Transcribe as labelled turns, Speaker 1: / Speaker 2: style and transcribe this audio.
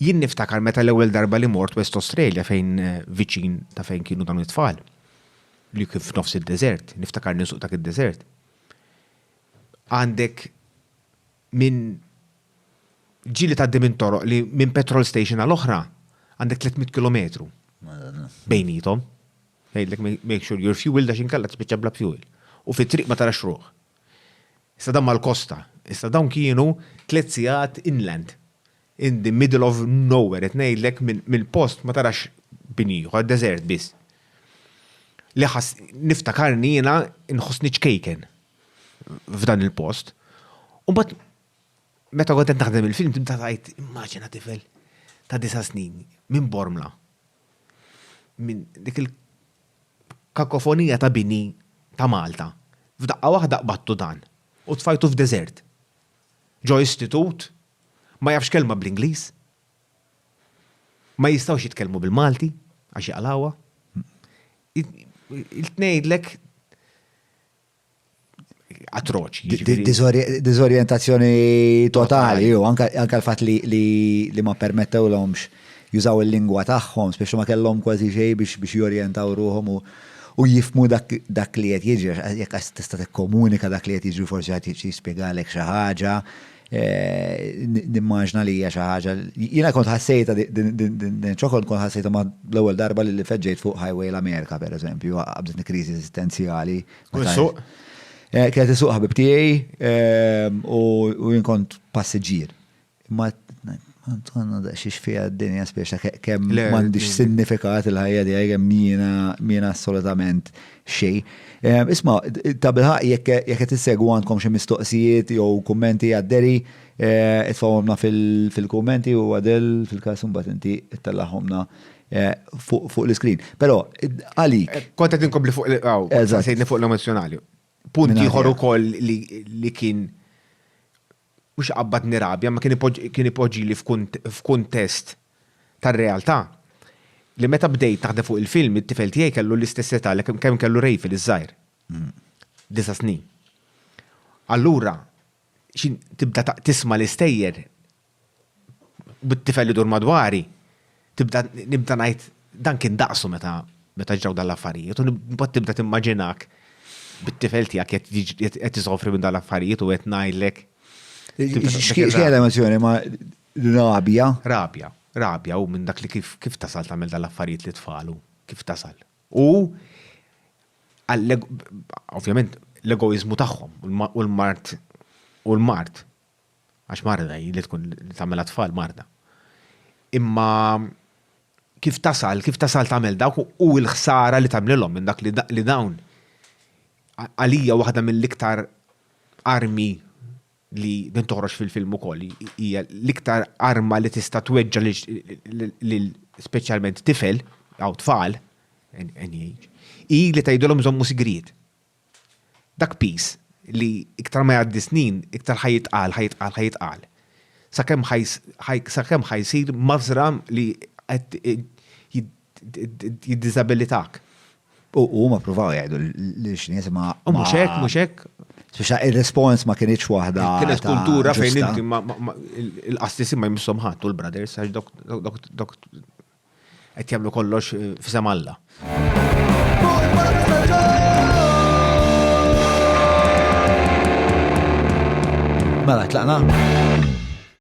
Speaker 1: Jien niftakar meta l-ewwel darba li mort West Australia fejn viċin ta' fejn kienu dawn it-tfal, li kien f'nofs id-deżert, niftakar ninsuq dak id-deżert. Għandek minn ġili tgħaddi minn toroq li minn petrol station għal oħra għandek 300 kilometru bejnietom. Jgħidlek make sure your fuel da xinkella tispiċċa bla fuel. U fit-triq ma tarax ruħ. Issa dan mal-kosta, issa dawn kienu tliet sigħat inland. In the middle of nowhere, qed ngħidlek mill-post ma tarax bini ieħor, deżert biss. Li ħass, niftakarni jiena nħossni ċkejken f'dan il-post. U mbagħad meta kont qed naħdem il-film tibda tgħid immaġina tifel ta' disa' snin minn Bormla. Minn dik il-kakofonija ta' bini ta' Malta. F'daqqa waħda qbadtu dan u tfajtu f'deżert. Ġo istitut Ma jafx kelma bl-Ingliż. Ma jistgħux jitkellmu bil-Malti għax jaqlgħuha. Il-tnejdlek atroċi. Jiġifieri- Dizorjentazzjoni totali, u anka anka l-fatt li li- li ma permettewlhomx jużaw il-lingwa tagħhom, speċi ma kellhom kważi xejn biex biex jorjentaw ruħhom u u jifhmu dak dak li qed jiġri, għax jekk qas tista' tikkomunika dak li qed jiġri forsi ħadd jiġi jispjegalek xi ħaġa, Nimmaġna li hija xi ħaġa. Jiena kont ħassejta din ċokol kont ħassejta ma' l-ewwel darba li feġġejt fuq highway l-Amerika pereżempju, qabditni kriżi eżistenzjali. Kont isuq? Eh, kienet isuq ħabib tiegħi ehm, u jien kont passiġġier. Ma Għanna da xiex fija d-dinja spiex ta' kem mandiġ signifikat il-ħajja di għajja mina assolutament xejn. Isma, ta' bilħaq jekk jekk qed issegwu għandkom xi mistoqsijiet jew kummenti għad-deri, itfgħuhomna fil-kummenti u Adel fil-każ imbagħad inti ittellagħhomna fuq l-iskrin. Però għalik. Kont qed inkompli fuq l-ilqgħu, sejtni fuq l-emozzjonali. Punt ieħor ukoll li kien mhux iqabbadni rabja, imma kien ipoġġili f'kuntest tar-realtà, li meta bdejt naħdem fuq il-film, it-tifel tiegħi kellu l-istess età li kemm kellu Rayfield iż-żgħir. Disa' snin. Allura, tibda tisma' l-istejjer bit-tifel idur madwari. Tibda nibda ngħid dan kien daqsu meta meta ġraw dan l-affarijiet u mbagħad tibda timmaġinak bit-tifel tiegħek qed isofri minn dan l-affarijiet u qed ngħidlek. X'kien l-emozjoni ma' rabja? Rabja, rabja u minn dak li kif kif tasal tagħmel dan l-affarijiet li tfalu, kif tasal. U ovvjament l-egoiżmu tagħhom u l-mart u l-mart għax marda hi li tkun li tagħmel tfal marda. Imma kif tasal, kif tasal tagħmel dawk u l-ħsara li tagħmlilhom minn dak li dawn għalija waħda mill-iktar armi li din toħroġ fil-film ukoll hija l-iktar arma li tista' tweġġa lil speċjalment tifel jew tfal hi li tgħidilhom żommu sigriet. Dak piż li iktar ma jgħaddi snin, iktar ħa jitqal, ħa jitqal, ħa jitqal. Sakemm ħa sakemm ħa jsir mażra li qed jiddiżabilitak. U huma ppruvaw jgħidu lill-Xnies imma. U mhux hekk, mhux hekk. Spiċċa ir-rispons ma kinitx waħda. Kienet kultura fejn inti il-qastis ma jmisshom ħadd u l-brothers għax dok qed jagħmlu kollox eh, f'isem Alla. Mela, tlaqna?